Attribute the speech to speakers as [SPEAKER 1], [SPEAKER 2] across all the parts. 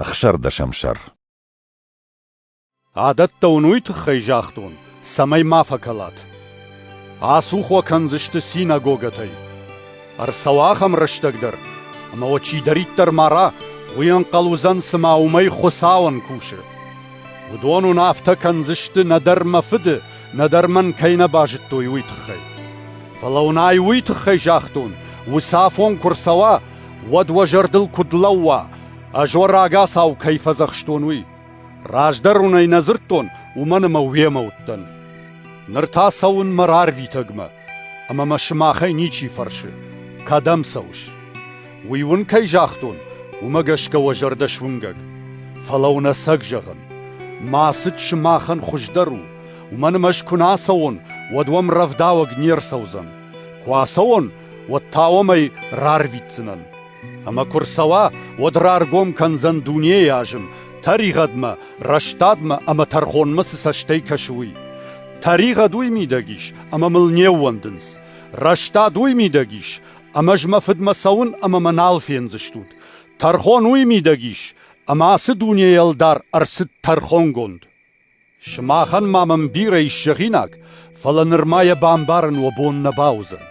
[SPEAKER 1] Ӕхсӕрдӕсӕмсӕр
[SPEAKER 2] Адӕттӕ уын уый тыххӕй загътон, цӕмӕй ма фӕкӕлат. Ацух уӕ кӕндзысты синагогӕтӕй. Ӕрцӕуа ахӕм рӕстӕг дӕр, ӕмӕ уӕ чидӕриддӕр мара, уый ӕнхъӕл уыдзӕн, цыма уымӕй Хуыцауӕн кусы. Уыдон уын афтӕ кӕндзысты нӕдӕр мӕ фыды, нӕдӕр мӕн кӕй нӕ базыдтой, уый тыххӕй. Фӕлӕ уын ай уый тыххӕй загътон, уыцы афон куы рцӕуа, уӕд уӕ зӕрдыл куыд лӕууа, ӕз уӕ рагацау кӕй фӕдзӕхстон, уый. Раздӕр уын ӕй нӕ дзырдтон, уымӕн ӕмӕ уемӕ уыдтӕн. Ныр та цӕуын мӕ рарвитӕгмӕ, ӕмӕ мӕ сымахӕй ничи фӕрсы, кӕдӕм цӕуыс? Уый уын кӕй загътон, уымӕ гӕсгӕ уӕ зӕрдӕ суынгӕг. Фӕлӕ уын ӕцӕг зӕгъын, мӕ ацыд сымахӕн хуыздӕр у, уымӕн ӕмӕ ӕз куы нӕ ацӕуон, уӕд уӕм рӕвдауӕг не рцӕудзӕн. Куы ацӕуон, уӕд та уӕм ӕй рарвитдзынӕн. Ӕмӕ куы рцӕуа, уӕд раргом кӕндзӕн дунейы азым, тӕригъӕдмӕ, рӕстадмӕ ӕмӕ тӕрхонмӕ цы цӕстӕй кӕсы, уый. Тӕригъӕд уый мидӕг ис, ӕмӕ мыл не ууӕндынц. Рӕстад уый мидӕг ис, ӕмӕ ӕз мӕ фыдмӕ цӕуын ӕмӕ мӕ нал фендзыстут. Тӕрхон уый мидӕг ис, ӕмӕ ацы дунейы ӕлдар ӕрцыд тӕрхонгонд. Сымахӕн ма мын бирӕ ис зӕгъинаг, фӕлӕ нырма йӕ бамбарын уӕ бон нӕ бауыдзӕн.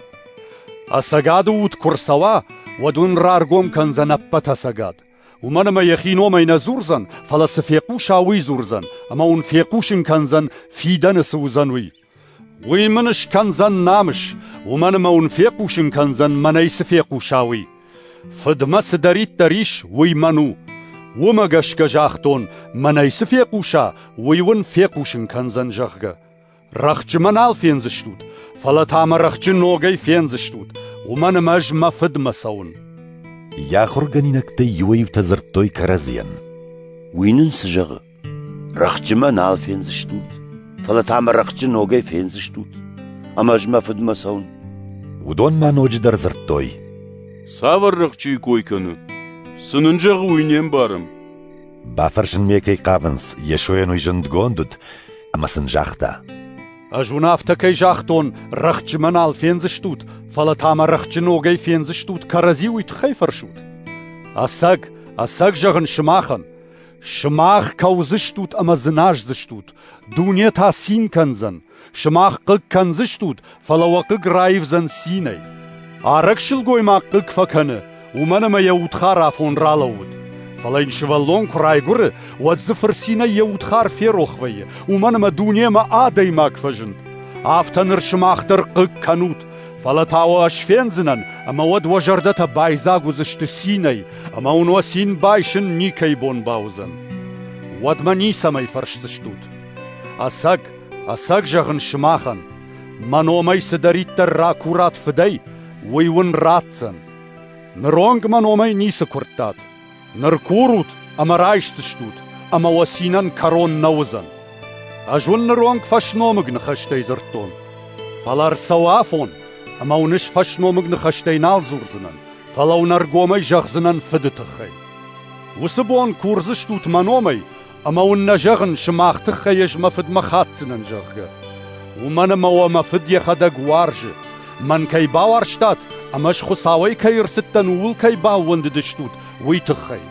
[SPEAKER 2] Ӕцӕгады уд куы рцӕуа, уӕд уын раргом кӕндзӕн ӕппӕт ӕцӕгад. Уымӕн ӕмӕ йӕхи номӕй нӕ дзурдзӕн, фӕлӕ цы фехъуса, уый дзурдзӕн, ӕмӕ уын фехъусын кӕндзӕн, фидӕны цы уыдзӕн, уый. Уый мын скӕндзӕн намыс, уымӕн ӕмӕ уын фехъусын кӕндзӕн, мӕнӕй цы фехъуса, уый. Фыдмӕ цыдӕриддӕр ис, уый мӕн у. Уымӕ гӕсгӕ загътон, мӕнӕй цы фехъуса, уый уын фехъусын кӕндзӕн, зӕгъгӕ. Рӕхджы мӕ нал фендзыстут, фӕлӕ та мӕ рӕхджы ногӕй фендзыстут, уымӕн ӕмӕ ӕз мӕ фыдмӕ цӕуын. Йӕ
[SPEAKER 1] ахуыргӕнинӕгтӕй иуӕй-иутӕ дзырдтой кӕрӕдзийӕн. Уый нын
[SPEAKER 3] цы зӕгъы? Рӕхджы мӕ нал фендзыстут, фӕлӕ та мӕ рӕхджы ногӕй фендзыстут, ӕмӕ ӕз мӕ фыдмӕ цӕуын. Уыдон
[SPEAKER 1] ма ноджыдӕр дзырдтой. Цавӕр
[SPEAKER 4] рӕхджыйы кой кӕны? Цы нын зӕгъы, уый не мбарӕм. Бафӕрсынмӕ
[SPEAKER 1] кӕй хъавынц, Йесойӕн уый зындгонд уыд, ӕмӕ сын загъта. Ӕз уын афтӕ
[SPEAKER 2] кӕй загътон, рӕхджымӕ нал фендзыстут, фӕлӕ та мӕ рӕхджы ногӕй фендзыстут, кӕрӕдзи уый тыххӕй фӕрсут. Ӕцӕг, ӕцӕг зӕгъын сымахӕн, Сымах кӕудзыстут ӕмӕ дзыназдзыстут, дуне та цин кӕндзӕн. Сымах хъыг кӕндзыстут, фӕлӕ уӕ хъыг раивдзӕн цинӕй. Арӕг сылгоймаг хъыг фӕкӕны, уымӕн ӕмӕ йӕ удхар афон ралӕууыд. Фӕлӕ йын сывӕллон куы райгуыры, уӕд дзы фырцинӕй йӕ удхар ферох вӕййы, уымӕн ӕмӕ дунемӕ адӕймаг фӕзынд. Афтӕ ныр сымах дӕр хъыг кӕнут. Фӕлӕ та уӕ ӕз фендзынӕн, ӕмӕ уӕд уӕ зӕрдӕтӕ байдзаг уыдзысты цинӕй, ӕмӕ уын уӕ цин байсын никӕй бон бауыдзӕн. Уӕдмӕ ницӕмӕй фӕрсдзыстут. Ӕцӕг, ӕцӕг зӕгъын сымахӕн, мӕ номӕй цыдӕриддӕр ракурат фыдӕй, уый уын ратдзӕн. Ныронг мӕ номӕй ницы куырдтат, Ныр курут ӕмӕ райсдзыстут, ӕмӕ уӕ цинӕн кӕрон нӕ уыдзӕн. Ӕз уын ныронг фӕсномыг ныхӕстӕй дзырдтон. Фӕлӕ ӕрцӕуы афон, ӕмӕ уын ӕз фӕсномыг ныхӕстӕй нал дзурдзынӕн, фӕлӕ уын ӕргомӕй зӕгъдзынӕн фыды тыххӕй. Уыцы бон курдзыстут мӕ номӕй Ӕмӕ уын нӕ зӕгъын, сымах тыххӕй ӕз мӕ фыдмӕ хатдзынӕн, зӕгъгӕ. Уымӕн ӕмӕ уӕ мӕ фыд йӕхӕдӕг уарзы. Мӕн кӕй бауарзтат ӕмӕ ӕз Хуыцауӕй кӕй ӕрцыдтӕн, ууыл кӕй баууӕндыдыстут, уый тыххӕй.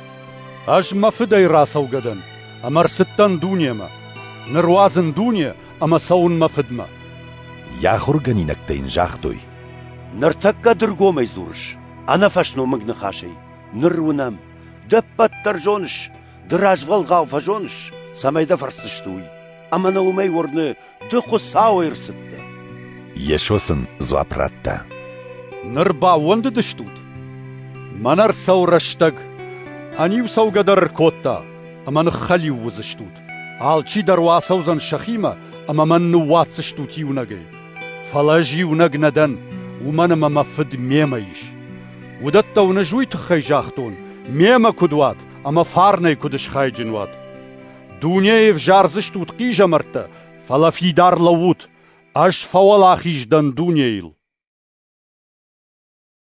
[SPEAKER 2] Ӕз мӕ фыдӕй рацӕугӕ дӕн ӕмӕ ӕрцыдтӕн дунемӕ. Ныр уадзын дуне ӕмӕ цӕуын мӕ фыдмӕ. Йӕ
[SPEAKER 1] ахуыргӕнинӕгтӕ йын загътой: Ныртӕккӕ
[SPEAKER 3] дыргомӕй дзурыс, ӕнӕфӕсномыг ныхасӕй. Ныр уынӕм, де ппӕт дӕр зоныс, Ды развӕлгъау фӕзоныс, цӕмӕй дӕ фӕрсдзысты уый, ӕмӕ ныл уымӕй уырны, ды Хуыцауӕй ӕрцыдтӕ. Йесо
[SPEAKER 1] сын дзуапп радта. Ныр
[SPEAKER 2] баууӕндыдыстут? Мӕнӕ ӕрцӕуы рӕстӕг. Ӕниу цӕугӕ дӕр ӕркодта, ӕмӕ ныххӕлиу уыдзыстут. Алчи дӕр уӕ ацӕудзӕн сӕхимӕ, ӕмӕ мӕн ныууадздзыстут иунӕгӕй. Фӕлӕ ӕз иунӕг нӕ дӕн, уымӕн ӕмӕ мӕ Фыд мемӕ ис. Уыдӕттӕ уын ӕз уый тыххӕй загътон, мемӕ куыд уат, ӕмӕ фарнӕй куыд схайджын уат. Дунейы взардзыстут хъизӕмӕрттӕ, фӕлӕ фидар лӕуут, ӕз фӕуӕлахиз дӕн дунейыл.